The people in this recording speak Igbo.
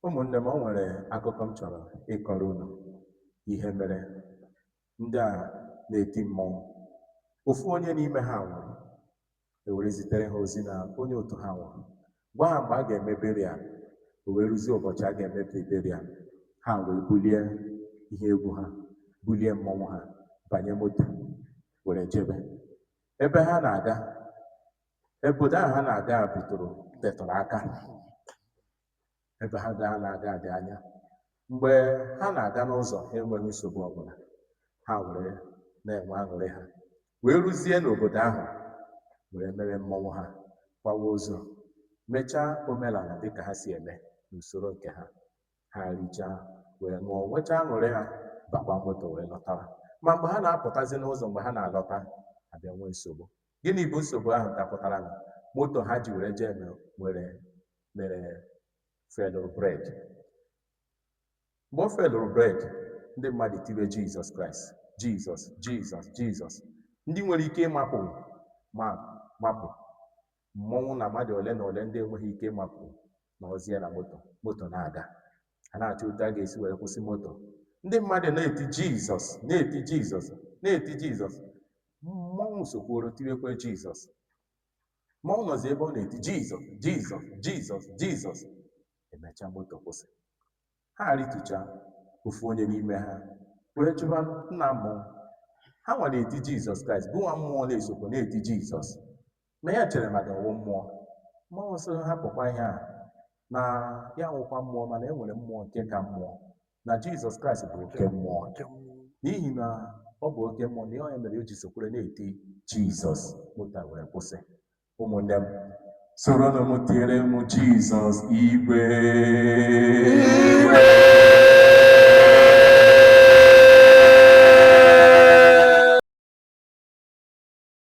ụmụnne m o nwere akụkọ m chọrọ ịkọrọ unu ihe mere ndị a na-eti mmọnwụ ofu onye n'ime ha nwụrụ ewere zitere ha ozi na onye otu ha nwụrụ gwa ha mgbe a ga-eme burial o wee ruzie ụbọchị a ga-eme burial ha wee bulie ihe egwu ha bulie mmọnwụ ha banye moto were jebe ebe ha na-aga Obodo ahụ ha na-aga bidoro tetụrụ aka ebe ha na-aga dị anya. Mgbe ha na-aga n'ụzọ, ha enweghị nsogbu ọbụla. Ha were na-enwe aṅụrị ha. Wee ruzie n'obodo ahụ, were mere mmọnwụ ha, kwawa ozu, mechaa omenala dịka ha si eme n'usoro nke ha. Ha richaa, were ṅụọ, nwechaa aṅụrị ha, bakwa moto wee lọtawa. Ma mgbe ha na-apụtazi n'ụzọ mgbe ha na-alọta, a bịa nwee nsogbu. Gịnị bụ nsogbu ahụ dapụtaranụ? Moto ha ji were jee mere were mere felụrụ breki. Mgbe ọ felụrụ breki, ndị mmadụ tiwe Jizọs Kraịst, Jizọs, Jizọs, Jizọs. Ndị nwere ike ịmapụ mapụ mmọnwụ na mmadụ ole na ole ndị enweghị ike ịmapụ nọrọzie na moto moto na-aga. a na-achọ otu a ga-esi were kwụsị moto ndị mmadụ na-eti jizọs na-eti jizọs na-eti jizọs mmọnwụ sokworo tiwekwe jizọs mmọnwụ nọzi ebe ọ na-eti jizọs jizọs jizọs jizọs emechaa moto kwụsị ha ritucha ofu onye n'ime ha wee jụba nna mmụọ ha nwa na-eti jizọs kraịst bụ nwa mmụọ na-esokwa na-eti jizọs na ya chere maka ọ wụ mmụọ mmọnwụ sị hapụkwa ihe a na ya wụkwa mmụọ mana e nwere mmụọ nke ka mmụọ na jizọs kraịst bụ oke mmụọ n'ihi na ọ bụ oke mmụọ na ọ ya mere o ji sokwere na-eti jizọs moto were kwụsị ụmụnne m soronụ m tiere m jizọs igwe